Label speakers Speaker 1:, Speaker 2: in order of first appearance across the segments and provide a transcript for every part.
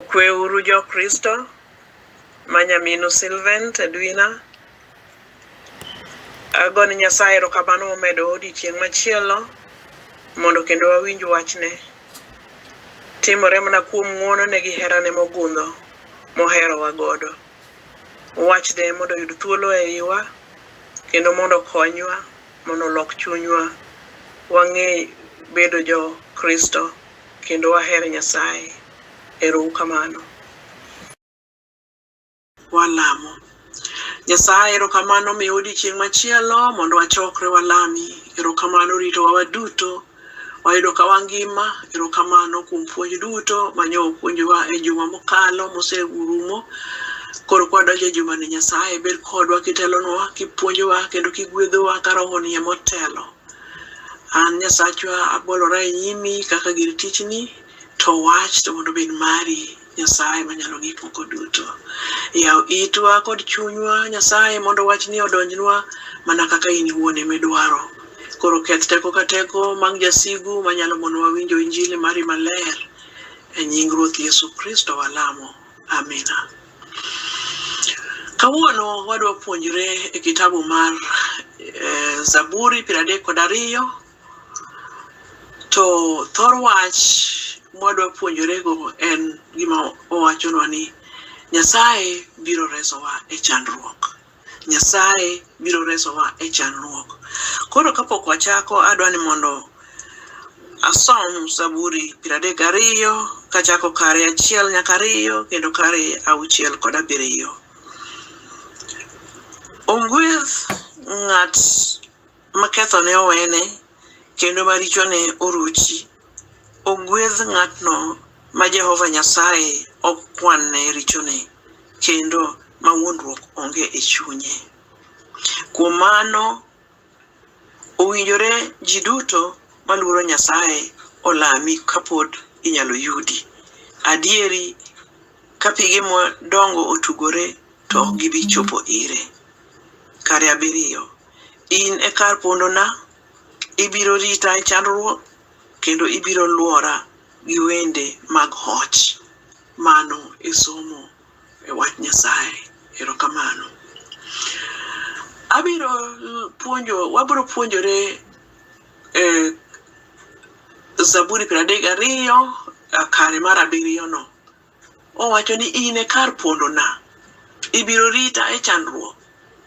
Speaker 1: Kweuru jo Kristo ma nyaminu Sylvent Edwina. Ago ni Nyasaye erokamano momedo odiochieng' machielo mondo kendo wawinj wachne. Timore mana kuom ng'wonone gi herane mogundho moherowa godo. Wachne mondo oyud thuolo e iwa kendo mondo okonywa mondo olok chunywa wang'e bedo jo Kristo. kendo waher Nyasaye. Ero u kamano. Walamo. Nyasaye erokamano miyo odiochieng' machielo mondo wachokre walami. Erokamano ritowa waduto. Wayudo ka wangima. Erokamano kuom puonj duto mane opuonjowa e juma mokalo moserumo. Koro kwa donjo e jumani Nyasaye bed kodwa kitelonwa, kipuonjowa kendo kigwedhowa ka rohoni emotelo. An Nyasachwa abolora e nyimi kaka gir tichni, to wach to mondo obed mari Nyasaye manyalo gik moko duto. Yaw itwa kod chunywa Nyasaye mondo wachni odonjnwa mana kaka in iwuon ema idwaro. Koro keth teko ka teko mag jasigu manyalo monowa winjo injili mari maler. E nying Ruoth Yesu Kristo walamo. Amina. Kawuono wadwa puonjre e kitabu mar eh, Zaburi piero adek kod ariyo to thor wach mwadwa puonjorego en gima owachonwa ni Nyasaye biro resowa e chandruok. Nyasaye biro resowa e chandruok. Koro kapok wachako, adwa ni mondo asom Zaburi piero adek gariyo kachako kare achiel nyaka ariyo kendo kare auchiel kod abiriyo. Ong'weth ng'at ma kethone owene, kendo ma richone oruchi. Ogwedh ng'atno ma Jehova Nyasaye ok kwanne richone, kendo ma wuondruok onge e chunye. Kuom mano, owinjore ji duto maluoro Nyasaye olami kapod inyalo yudi. Adieri, ka pige madongo otugore, to ok gibi chopo ire. Kare abiriyo In e kar pondona, ibiro rita e chandruok, kendo ibiro lwora gi wende mag hoch. Mano e somo e wach Nyasaye. Erokamano. Abiro l- puonjo, wabiro puonjore eh, Zaburi piero adek gariyo, eh, kare mar abiriyono. Owacho ni, In e kar pondona, ibiro rita e chandruok,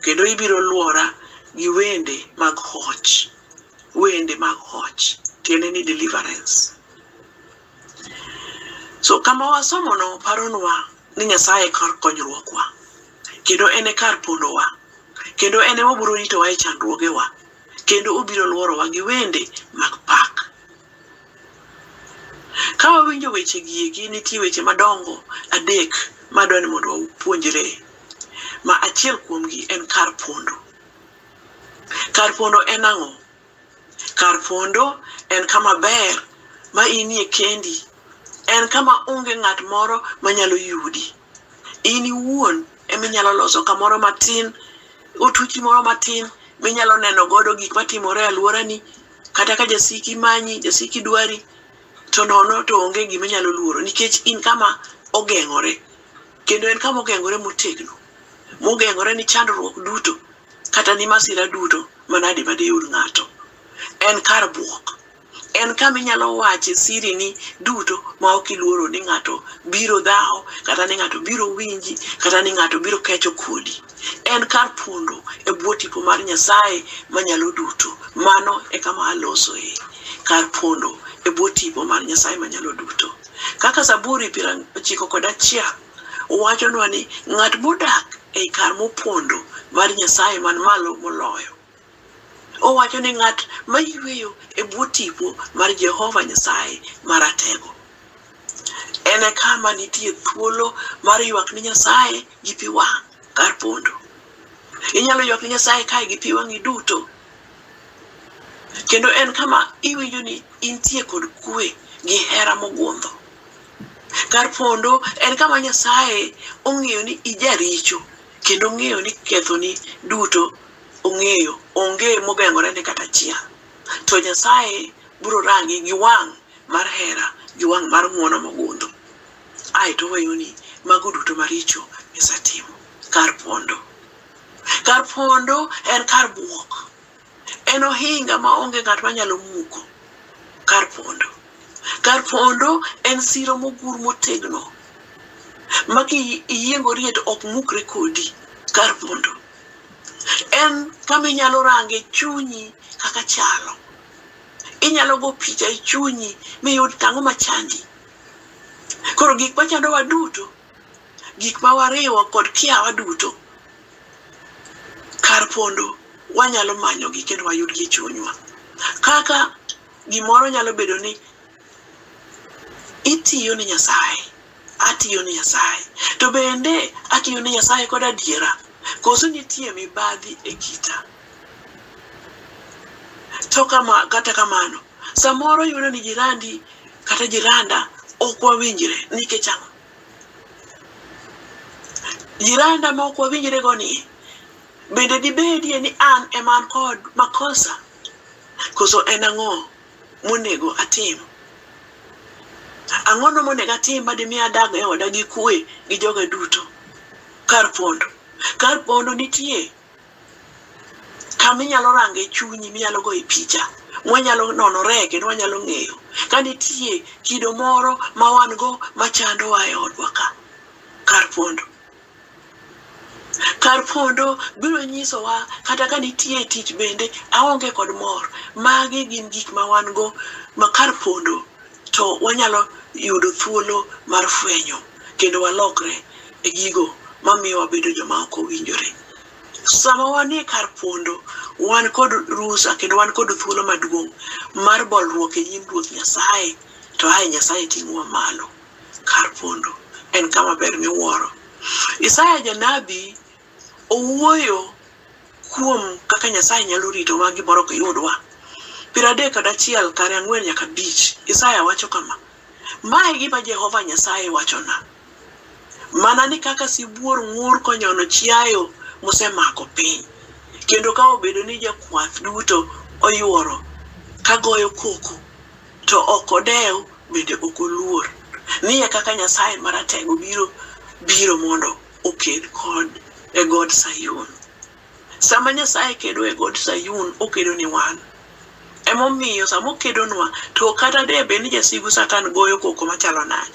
Speaker 1: kendo ibiro lwora gi wende mag hoch. Wende mag hoch tiende ni deliverance. So kama wasomono paronwa ni Nyasaye e kar konyruokwa, kendo en e kar pondowa, kendo en ema obiro ritowa e chandruogewa, kendo obiro lworowa gi wende mag pak. Ka wawinjo weche gieki, nitie weche madongo adek ma adwa ni mondo wapuonjre, ma achiel kuomgi en kar pondo. Kar pondo en ang'o? Kar pondo en kama ber ma inie kendi, en kama onge ng'at moro manyalo yudi. In iwuon ema inyalo loso kamoro matin, otuchi moro matin minyalo neno godo gik matimore e alworani, kata ka jasiki manyi jasiki dwari to nono to onge gima inyalo luoro nikech in kama ogeng'ore kendo en kama ogeng'ore motegno mogeng'ore ni chandruok duto kata ni masira duto manade madiyud ng'ato en kar buok en kama inyalo wache siri ni duto ma ok iluoro ni ng'ato biro dhawo kata ni ng'ato biro winji kata ni ng'ato biro kecho kodi En kar pondo e bwo tipo mar Nyasaye Manyalo Duto. Mano e kama alosoe, kar pondo e bwo tipo mar Nyasaye Manyalo Duto. Kaka Zaburi piero ochiko kod achiel wachonwa ni ng'at modak ei kar mopondo mar Nyasaye man malo moloyo Owacho ni ng'at ma yweyo e bwo tipo mar Jehova Nyasaye Maratego en e kama nitie thuolo mar ywak ni Nyasaye gi pi wang' kar pondo. Inyalo ywak ni Nyasaye kae gi pi wang'i duto. Kendo en kama iwinjo ni intie kod kwe gi hera mogundho. Kar pondo en kama Nyasaye ong'eyo ni ijaricho kendo ong'eyo ni kethoni duto Ong'eyo, onge mogeng'orene kata achiel. To Nyasaye biro rangi gi wang' mar hera, gi wang' mar ng'wono mogundho, ae to oweyoni mago duto maricho misetimo. Kar pondo. Kar pondo en kar buok. En ohinga ma onge ng'at ma nyalo muko. Kar pondo. Kar pondo en siro mogur motegno ma ki iyiengori to ok mukre kodi. Kar pondo. en kama inyalo range chunyi kaka chalo. Inyalo go picha e chunyi miyud tang'o machandi. Koro gik machandowa duto, gik ma wariwo kod kiawa duto, kar pondo wanyalo manyogi kendo wayudgi e chunywa. Kaka gimoro nyalo bedo ni Itiyo ne Nyasaye, atiyo ne Nyasaye. To bende atiyo ne Nyasaye kod adiera, koso nitie mibadhi e kita? To kama, kata kamano, samoro yudo ni jirandi kata jiranda ok wawinjre nikech ang'o? Jiranda ma ok wawinjre go ni, bende dibedie ni an ema an kod makosa? Koso en ang'o monego atim? Ang'ono monego atim ma dimi adag e oda gi kue gi joga duto? Kar pondo. Kar pondo nitie kaminyalo range chunyi minyalo goye picha mwanyalo nonore kendo wanyalo ng'eyo ka nitie kido moro ma wan go machandowa e odwa ka kar pondo. Kar pondo biro nyisowa kata ka nitie tich bende aonge kod mor. Magi gin gik ma wan go ma kar pondo to wanyalo yudo thuolo mar fwenyo kendo walokre e gigo ma miyo wabedo joma ok owinjore. Sama wanie kar pondo, wan kod rusa kendo wan kod thuolo maduong' mar bolruok e nyim Ruoth Nyasaye to ae Nyasaye ting'owa malo. Kar pondo en kama ber miwuoro. Isaya janabi owuoyo kuom kaka Nyasaye nyalo ritowa gimoro ok yudwa. Piero adek kod achiel kare ang'wen nyaka abich, Isaya wacho kama, Ma e gima Jehova Nyasaye wachona, mana ni kaka sibuor ng'ur konyono chiayo mosemako piny, kendo ka obedo ni jakwath duto oyuoro ka goyo koko, To ok odew bende ok oluor. Ni e kaka Nyasaye Maratego biro biro mondo oked kod e god Sayun. Sama Nyasaye kedo e god Sayun, okedo ni wan. Emomiyo sama okedonwa, to kata de bed ni jasigu Satan goyo koko machalo nade,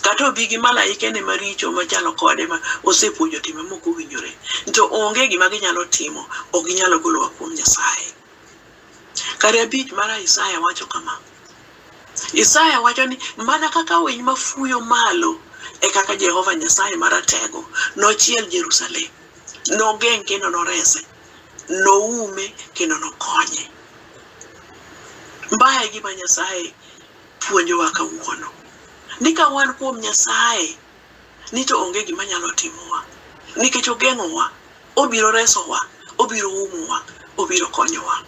Speaker 1: kata obi gi malaikene maricho machalo kode ma osepuonjo timbe mok owinjore, to onge gima ginyalo timo, ok ginyalo golowa kuom Nyasaye. Kare abich mar Isaya wacho kama, Isaya wacho ni mana kaka winy mafuyo malo e kaka Jehova Nyasaye Maratego nochiel Jerusalem, nogeng' kendo norese, noume kendo nokonye. Mbaye gima Nyasaye puonjowa kawuono ni ka wan kuom Nyasaye ni to onge gima nyalo timowa nikech ogeng'owa, obiro resowa, obiro umowa, obiro konyowa.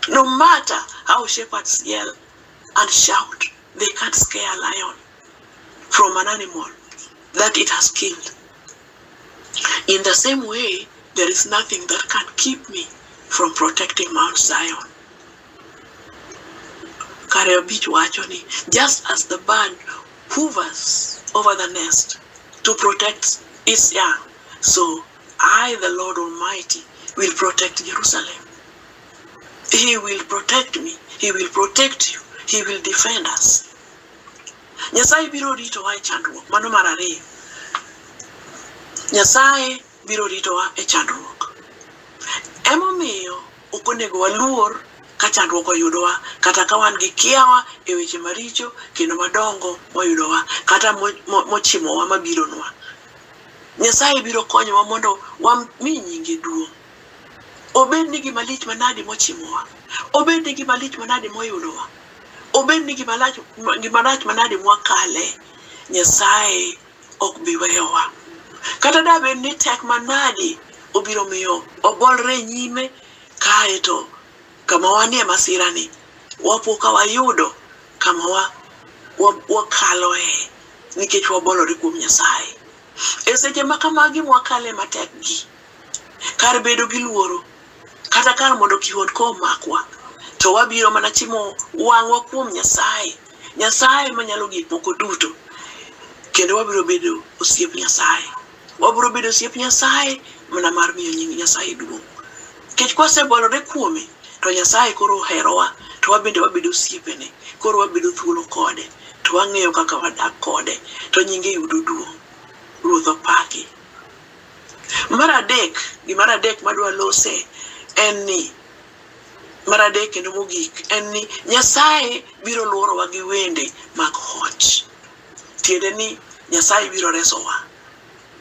Speaker 1: No matter how shepherds yell and shout, they can't scare a lion from an animal that it has killed. In the same way, there is nothing that can keep me from protecting Mount Zion. Kare abich wacho ni just as the bird hovers over the nest to protect its young, so I, the Lord Almighty, will protect Jerusalem. He will protect me. He will protect you. He will defend us. Nyasaye biro ritowa e chandruok. Mano mar ariyo. Nyasaye biro ritowa e chandruok. Emomiyo ok onego waluor ka chandruok oyudowa kata ka wan gi kiawa e weche maricho kendo madongo moyudowa kata mochimowa mabironwa. Nyasaye biro konyowa mondo wami nyinge duong'. Obed ni gima lich manadi mochimowa, obed ni gima lich manadi moyudowa, obed ni gima lach gima rach manadi mwakale, Nyasaye ok bi weyowa. Kata da bed ni tek manadi obiro miyo wabolre e nyime, kae to kama wanie masirani, wapo ka wayudo kama wa, wa, wakaloe nikech wabolore kuom Nyasaye. E seche ma kamagi mwakale matekgi, kar bedo gi luoro, kata kar mondo kihondko omakwa, to wabiro mana chimo wang'wa kuom Nyasaye Nyasaye manyalo gik moko duto kendo wabiro bedo osiep Nyasaye. Wabiro bedo osiep Nyasaye mana mar miyo nying Nyasaye duong'. Nikech kwasebolore kuome to Nyasaye koro oherowa to wabende wabedo osiepene. Koro wabedo thuolo kode to wang'eyo kaka wadak kode to nyinge yudo duong'. Ruoth opaki. Mar adek, gimar adek madwa lose en ni Mar adek kendo mogik en ni Nyasaye biro lworowa gi wende mag hoch. Tiende ni Nyasaye biro resowa.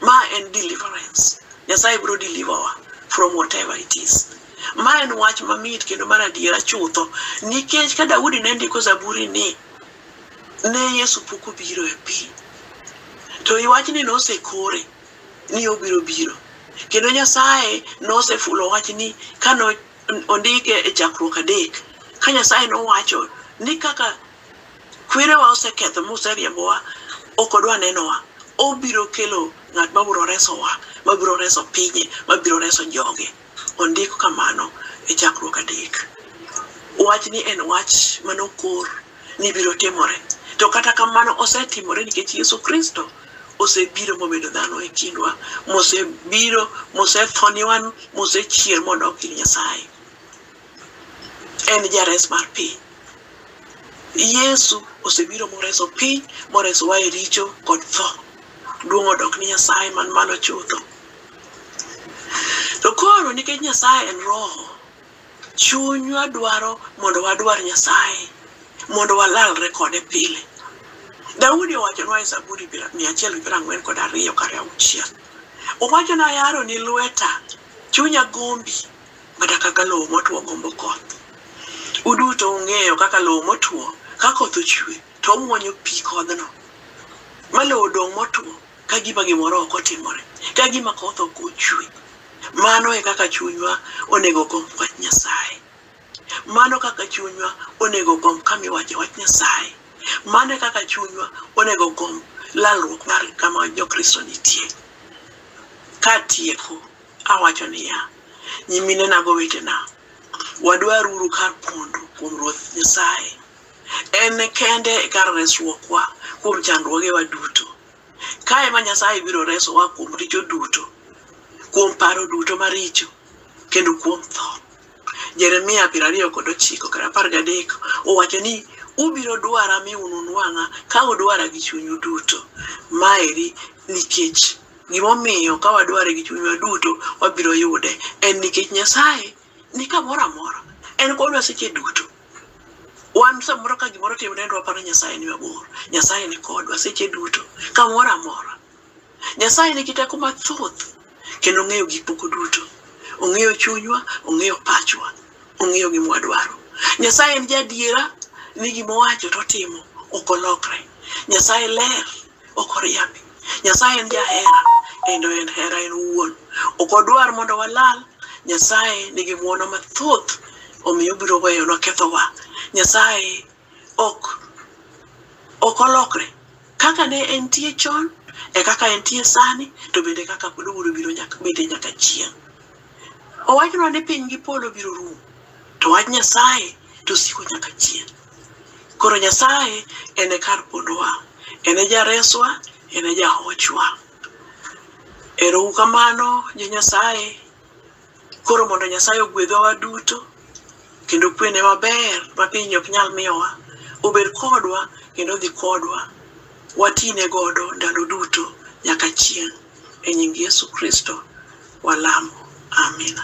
Speaker 1: Ma en deliverance. Nyasaye biro deliver wa from whatever it is. Ma en wach mamit kendo mar adiera chutho nikech ka Daudi ne ndiko zaburi ni ne Yesu pok obiro e piny to i wachni nosekore ni obiro biro. Kendo Nyasaye nosefulo wachni ka ondike e chakruok adek, ka Nyasaye nowacho ni kaka kwerewa oseketho moseriembowa, ok odwa nenowa, obiro kelo ng'at mabiro resowa, mabiro reso pinye, mabiro reso joge. Ondik kamano e chakruok adek. Wachni en wach mane okor ni biro timore. To kata kamano osetimore nikech Yesu Kristo osebiro mobedo dhano e kindwa, mosebiro, mosetho ni wan, mosechier modok ir Nyasaye. En jares mar piny. Yesu osebiro moreso piny, moresowa e richo kod tho. Duong' odok ni Nyasaye man malo chutho. To koro nikech Nyasaye en roho, chunywa dwaro mondo wadwar Nyasaye mondo walalre kode pile. Daudi owachonwa e Zaburi mia achiel gi piero ang'wen kod ariyo kar auchiel, owacho ni ayaro ni lweta, chunya gombi mana kaka lowo motwo gombo koth. Uduto ung'eyo kaka lowo motwo ka koth ochwe to omwonyo pi kodhno ma lowo odong' motwo. ka gima gimoro ok otimore, ka gima koth ok ochwe. Mano e kaka chunywa onego ogomb wach Nyasaye. Mano e kaka chunywa onego ogomb kama iwache wach Nyasaye. Mano e kaka chunywa onego ogomb lalruok mar kama Jokristo nitie. Katieko, awacho niya, nyiminena gi owetena, wadwaruru kar pondo kuom Ruoth Nyasaye. En kende e kar resruokwa kuom chandruogewa duto. Kae ma Nyasaye biro resowa kuom richo duto, kuom paro duto maricho, kendo kuom tho. Jeremia piero ariyo kod ochiko kar apar gadek owacho ni ubiro dwara mi ununwang'a ka udwara gi chunyu duto. Maeri nikech gimomiyo ka wadware gi chunywa duto wabiro yude en nikech Nyasaye ni kamoro amora, en kodwa seche duto. wan samoro ka gimoro timre nendo waparo nyasaye ni mabor nyasaye ni kodwa seche duto kamoro amora nyasaye nigi teko mathoth kendo ong'eyo gik moko duto ong'eyo chunywa ong'eyo pachwa ong'eyo gima wadwaro nyasaye en jadiera ni gima owacho to otimo ok olokre nyasaye ler ok oriambi. Nyasaye en jahera kendo en hera en owuon. Ok odwar mondo walal. Nyasaye nigi ng'wono mathoth omiyo obiro weyonwa kethowa. Nyasaye ok ok olokre. Kaka ne entie chon e kaka entie sani to bende e kaka pod obiro biro nyaka bende nyaka chieng'. Owachnwa ni piny gi polo biro rumo to wach Nyasaye to siko nyaka chieng'. Koro Nyasaye en e kar pondowa, en e jareswa, en e jahochwa. Ero uru kamano jo Nyasaye. Koro mondo Nyasaye ogwedhwa waduto kendo kwene maber ma piny ok nyal miyowa obed kodwa kendo odhi kodwa watine godo ndalo duto nyaka chieng' e nying Yesu Kristo walamo amina.